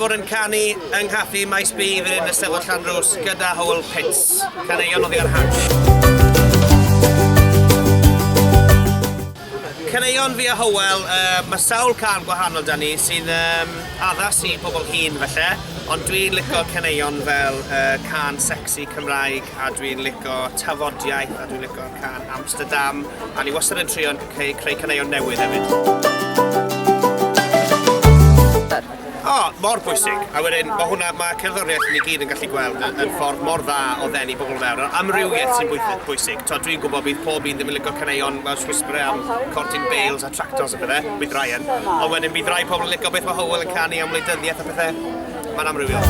bod yn canu yng nghaffi Maes B fan hyn y Steddfod Llanrwst gyda Howell Pitts. Caneuon oddi ar hant. Caneuon fi a Hywel, yy ma' sawl can gwahanol 'da ni sy'n yym addas i pobl hŷn falle, ond dwi'n lico caneuon fel yy cân secsi Cymraeg a dwi'n lico tafodiaith a dwi'n lico cân Amsterdam a ni wastad yn trio'n c- ceu- creu caneuon newydd hefyd. O, oh, mor bwysig. A wedyn, mae hwnna, mae cerddoriaeth ni gyd yn gallu gweld yn, yn ffordd mor dda o ddenu bobl fewn. Yr amrywiaeth sy'n bwysig. bwysig. To, dwi'n gwybod bydd pob un ddim yn lygo caneuon fel Swissbury am Cortyn Bales a Tractors a bethau, bydd Ryan. Ond wedyn bydd rai pobl yn lygo beth mae Howell yn canu am wleidyddiaeth a pethau. Mae'n amrywiol.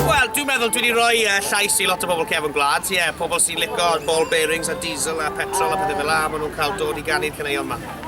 Wel, dwi'n meddwl dwi wedi rhoi uh, llais i lot o bobl cefn gwlad. Ie, yeah, pobl sy'n lygo ball bearings a diesel a petrol a pethau fel la, maen nhw'n cael dod i ganu'r caneuon yma.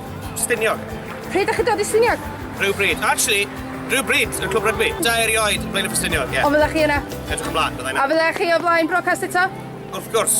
Stiniog. Pryd ydych chi'n dod i Stiniog? Rhyw bryd. Actually, rhyw bryd yn Clwb Rygbi. Da erioed, Blaen y Ffestiniog, ie. Ond fyddech chi yna? Edrych ymlaen, byddai yna. A fyddech chi o flaen brocast eto? Wrth gwrs.